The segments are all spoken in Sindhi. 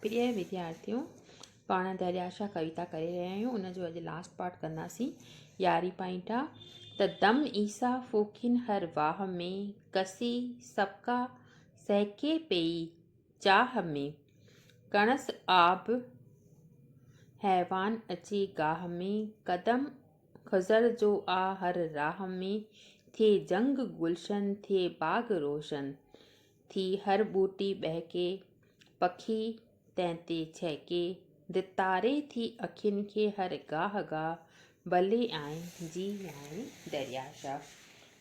پريء وديارٿيو! پاڻ دريا شاهه ڪويتا ڪري رهيا آهيون، ان جو اڄ لاسٽ پارٽ ڪنداسين. يارهين پوائنٽ آ ته دم عيسيٰ ڦوڪين هر واهه ۾، ڪسي سڪا سهڪي پيئي چاهه ۾، ڪڻس آب حيوان اچي گاهه ۾، قدم خضر جو آ هر راهه ۾، ٿئي جهنگ گلشن، ٿئي باغ روشن. ٿي هر ٻوٽي ٻهڪي، پکي تنهن تي ڇهڪي. ڌتاري ٿي اکين کي هر گاهه گاهه، ڀلي آئين جي آئين دريا شاهه.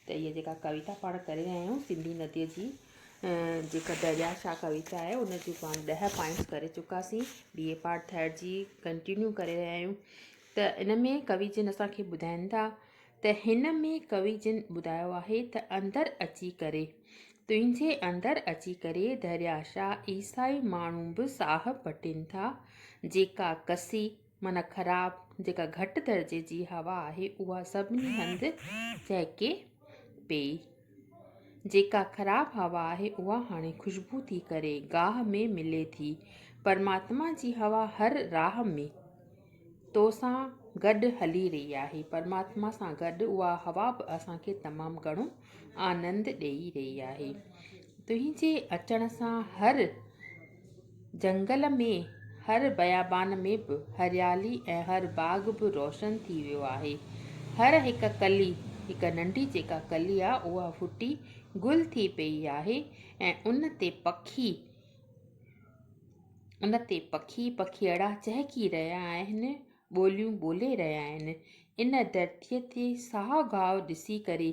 ته هيء جيڪا ڪويتا پاڻ ڪري رهيا آهيون سنڌي نديء جي جيڪا دريا شاهه ڪويتا آهي ان جون پاڻ ڏهه پوائنٽس ڪري چڪاسين ٻي اي پارٽ ٿرڊ جي ڪنٽينيو ڪري رهيا آهيون ته ان ۾ ڪوي جن اسان کي ٻڌائين ٿا ته هن ۾ ڪوي جن ٻڌايو آهي ته اندر اچي ڪري، تنهنجي اندر اچي ڪري درياشاه عيسائي ماڻهو به ساهه پٽين ٿا، جيڪا ڪسي معنيٰ خراب جيڪا گهٽ درجي جي هوا آهي اها سڀني هنڌ چهڪي پيئي. جيڪا خراب هوا آهي اها هاڻي خوشبو ٿي ڪري گاهه ۾ ملي ٿي. پرماتما جي هوا هر راهه ۾. تو سان گڏ هلي رهي آهي. پرماتما سان گڏ اها هوا به اسان کي تمام گهڻو آنند ڏيئي رهي آهي. تنهنجي اچڻ سان هر جهنگل ۾، هر بيابان ۾ به هريالي ۽ هر باغ به روشن ٿي ويو آهي. هر هڪ ڪلي، هڪ ننڍي جيڪا ڪلي آهي اها ڦٽي گل ٿي پيئي آهي ۽ ان تي پکي، ان تي پکي پکيئڙا چهڪي رهيا آهن، ٻوليون ٻولي رهيا آهن. ان ڌرتيء تي ساهه گاهه ڏسي ڪري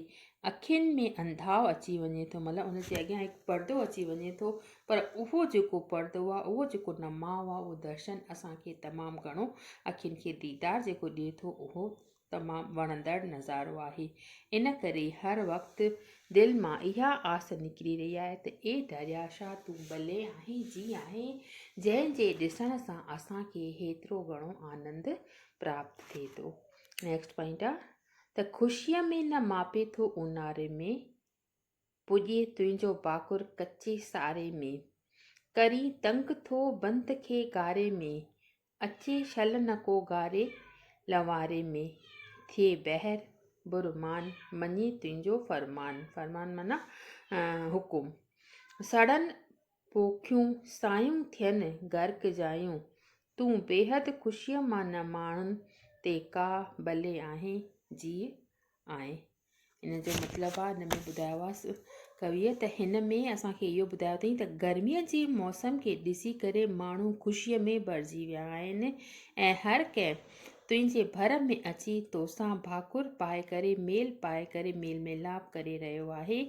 اکين ۾ انڌاء اچي وڃي ٿو. مطلب ان جي اڳيان هڪ پردو اچي وڃي ٿو، پر اهو جيڪو پردو آهي، اهو جيڪو نماء آهي، اهو درشن اسان کي تمام گهڻو اکين کي ديدار جيڪو ڏئي ٿو، اهو تمام وڻندڙ نظارو آهي ان ڪري هر وقت دل مان اها آس نڪري رهي آهي ته اي درياء شاهه تون ڀلي آهين جي آهين جنهن جي ڏسڻ سان اسان کي هيترو گهڻو آنند پراپت ٿئي ٿو نيڪسٽ پوائنٽ آ ته خوشيء ۾ نه ماپي ٿو اونهاري ۾ پڄي تنهنجو باکر ڪچي ساري ۾ ڪرين تنگ ٿو بنت کي گاري ۾ اچي شل نه ڪو گاري، لنواري ۾، ٿئي بحر برمان، مڃي تنهنجو فرمان، فرمان معنيٰ حڪم، سڙن پوکيون سايون ٿين غرق جايون، تون بيحد خوشيء مان نه ماڻهن تي ڪا بلي آهين، جيء آئين. ان جو مطلب آ ان ۾ ٻڌايو آ ڪويء ته هن ۾ اسان کي اهو ٻڌايو اٿئي ته گرميء جي موسم کي ڏسي ڪري ماڻهو خوشيء ۾ ڀرجي ويا آهن ۽ هر ڪنهن تنهنجي ڀر ۾ اچي توسان ڀاڪر پائي ڪري ميل پائي ڪري ميل ميلاپ ڪري رهيو آهي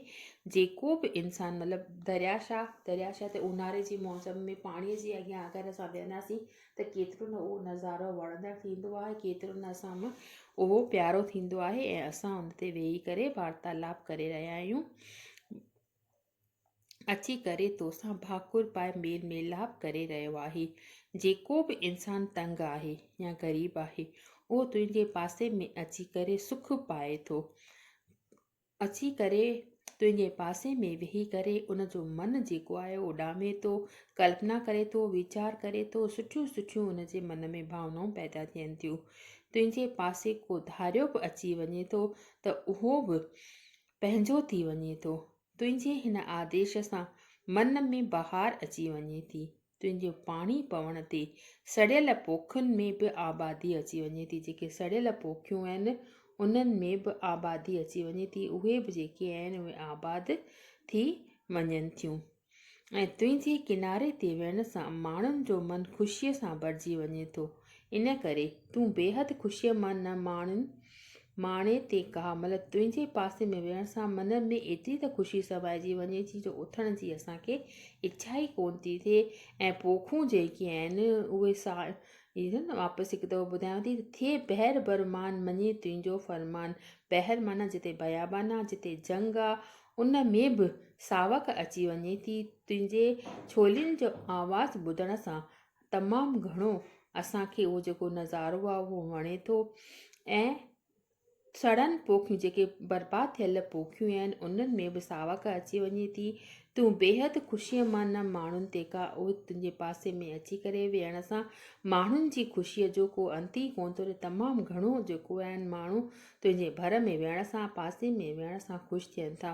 جيڪو به انسان مطلب دريا شاهه دريا شاهه تي اونهاري جي موسم ۾ پاڻيء جي اڳيان اگر اسان ويهنداسين ته ڪيترو نه اهو نظارو وڻندڙ ٿيندو آهي، ڪيترو نه اسان ۾ اهو پيارو ٿيندو آهي ۽ اسان ان تي ويهي ڪري وارتالاپ ڪري رهيا آهيون. اچي ڪري توسان ڀاڪر پائي ميل ميلاپ ڪري رهيو آهي. جيڪو به انسان تنگ آهي يا غريب آهي، اهو تنهنجي پاسي ۾ اچي ڪري سک پائي ٿو. اچي ڪري تنهنجي پاسي ۾ ويهي ڪري ان جو من جيڪو آهي اڏامي ٿو، ڪلپنا ڪري ٿو، ويچار ڪري ٿو، سٺيون سٺيون ان جي من ۾ ڀاونائون پيدا ٿين ٿيون. تنهنجي پاسي ڪو ڌاريو به اچي وڃي ٿو ته اهو به پنهنجو ٿي وڃي ٿو. تنهنجي هن آديش سان من ۾ بهار اچي وڃي ٿي. تنهنجي پاڻي پوڻ تي سڙيل پوکن ۾ به آبادي اچي وڃي ٿي، جيڪي سڙيل پوکيون آهن، انهن ۾ به آبادي اچي وڃي ٿي، اهي به جيڪي آهن، اهي آباد ٿي وڃن ٿيون ۽ تنهنجي ڪناري تي ويهڻ سان ماڻهن جو من خوشيء سان ڀرجي وڃي ٿو. ان ڪري تون بيحد خوشيء مان نه ماڻين. ماڻي تي ڪا مھل تنھنجي پاسي ۾ ويھڻ سان من ۾ ايتري ته خوشي سمائجي وڃي ٿي جو اٿڻ جي اسان کي اڇا ئي ڪونه ٿي ٿئي ۽ پوکون جيڪي آھن اھي ساڻ ئي ٿين. واپس ھڪ دفعو ٻڌايان ٿي ته ٿئي بحر بر مان مڃي تنھنجو فرمان. بحر معنيٰ جتي بيابان آ، جتي جھنگ آ، ان ۾ به ساوڪ اچي وڃي ٿي تنھنجي ڇولين جو آواز ٻڌڻ سان. تمام گهڻو اسان کي اهو جيڪو نظارو آهي اهو وڻي ٿو ۽ سڙن پوکيون جيڪي برباد ٿيل پوکيون آهن انهن ۾ به ساوڪ اچي وڃي ٿي تون بيحد خوشيء مان نه ماڻهن تي کا اهي تنهنجي پاسي ۾ اچي ڪري ويهڻ سان ماڻهن جي خوشيء جو ڪو انت ئي ڪونه ٿو تمام گهڻو جيڪو آهن ماڻهو تنهنجي ڀر ۾ ويهڻ سان پاسي ۾ ويهڻ سان خوش ٿين ٿا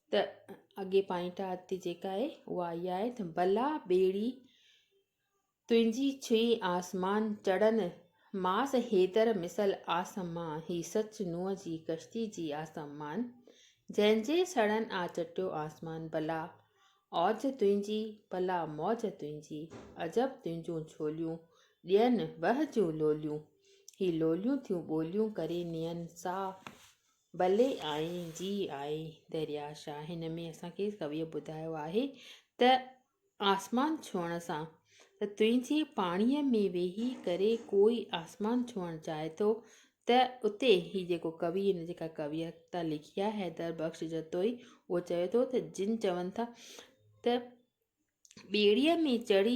ته اڳي پائنٽ آ تي جيڪا آهي اها اها آهي ته بلا ٻيڙي تنهنجي ڇهي آسمان چڙهن ماس حيدر مثل آسمان هي سچ نوح جي ڪشتي جي آسمان جنهن جي سڙهن آ چٽيو آسمان بلا اوج تنهنجي بلا موج تنهنجي عجب تنهنجون ڇوليون ڏين وهه جون لوليون هي لوليون ٿيون ٻوليون ڪري نين ساهه بلي آئي جي آء دريا شاهه هن ۾ اسان کي ڪويء ٻڌايو آهي ته آسمان ڇهڻ سان ته تنهنجي پاڻيء ۾ ويهي ڪري ڪوئي آسمان ڇهڻ چاهي ٿو ته اتي هي جيڪو ڪوي هن جيڪا ڪويتا لکي آهي حيدر بخش جتوئي اهو چوي ٿو ته جن چون ٿا ته ٻيڙيء ۾ چڙهي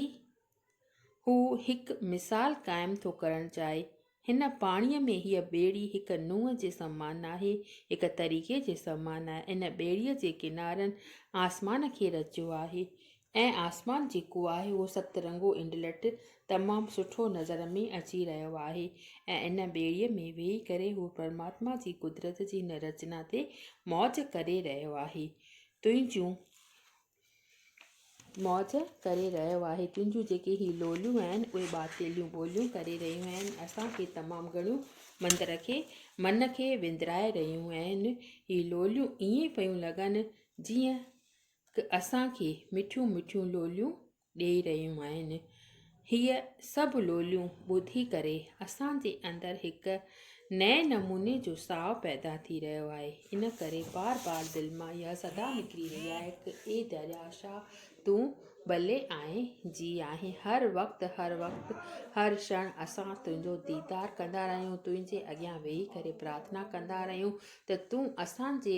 هو هڪ مثال قائم ٿو ڪرڻ چاهي. هن پاڻيء ۾ هيء ٻيڙي هڪ نونهن جي سمان ناهي، هڪ طريقي جي سمان آهي. ان ٻيڙيء جي ڪنارن آسمان کي رچيو آهي ۽ آسمان جيڪو آهي اهو ست رنگو انڊلٺ تمام سٺو نظر ۾ اچي رهيو آهي ۽ ان ٻيڙيء ۾ ويهي ڪري هو پرماتما جي قدرت جي ان رچنا تي موج ڪري رهيو آهي. تنهنجون موج ڪري رهيو آهي تنهنجون جيڪي هي لوليون آهن اهي ٻاٽيليون ٻوليون ڪري رهيون آهن اسان کي تمام گهڻيون مندر کي من کي وندرائي رهيون آهن هي لوليون ائين پيون لڳن جيئن اسان کي مٺيون مٺيون لوليون ڏيئي رهيون آهن. هيء سڀ لوليون ٻڌي ڪري اسان جي اندر هڪ نئين نموني جو ساهه پيدا ٿي رهيو آهي. ان ڪري بار بار دل مان اها صدا نڪري رهي آهي ته اي درياء شاهه تون ٻلي آهين جي آهين هر وقت هر وقت هر ڇڻ اسان تنهنجو ديدار ڪندا رهيون تنهنجي اڳيان ويهي ڪري پرارٿنا ڪندا رهيون ته تون اسان جي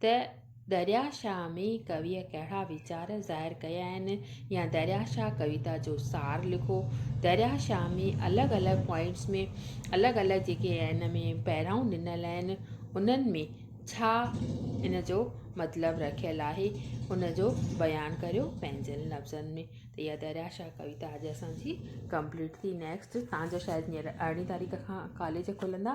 ته دريا شاهه ۾ ڪويء ڪهڙا ويچار ظاهر ڪيا آهن يا دريا شاهه ڪويتا جو سار لکو. دريا شاهه ۾ الڳ الڳ پوائنٽس ۾ الڳ الڳ جيڪي ان ۾ پهرائون ڏنل آهن انهن ۾ ڇا ان جو مطلب رکيل آهي ان جو بيان ڪريو پنهنجن لفظن ۾ ته اها دريا شاهه ڪويتا اڄ اسان جي ڪمپليٽ ٿي نيڪسٽ تان جو شايد هينئر ارڙهين تاريخ کان ڪاليج کلندا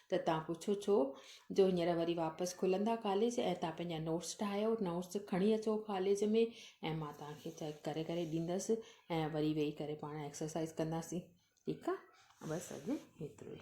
ته تان پڇو ڇو جو هينئر وري واپس کلندا ڪاليج ۽ تان پنهنجا نوٽس ٺاهيو نوٽس کڻي اچو ڪاليج ۾ ۽ مان تان کي چيڪ ڪري ڪري ڏيندس ۽ وري ويهي ڪري پاڻ ايڪسرسائز ڪنداسين ٺيڪ آ بس اڄ هيترو ئي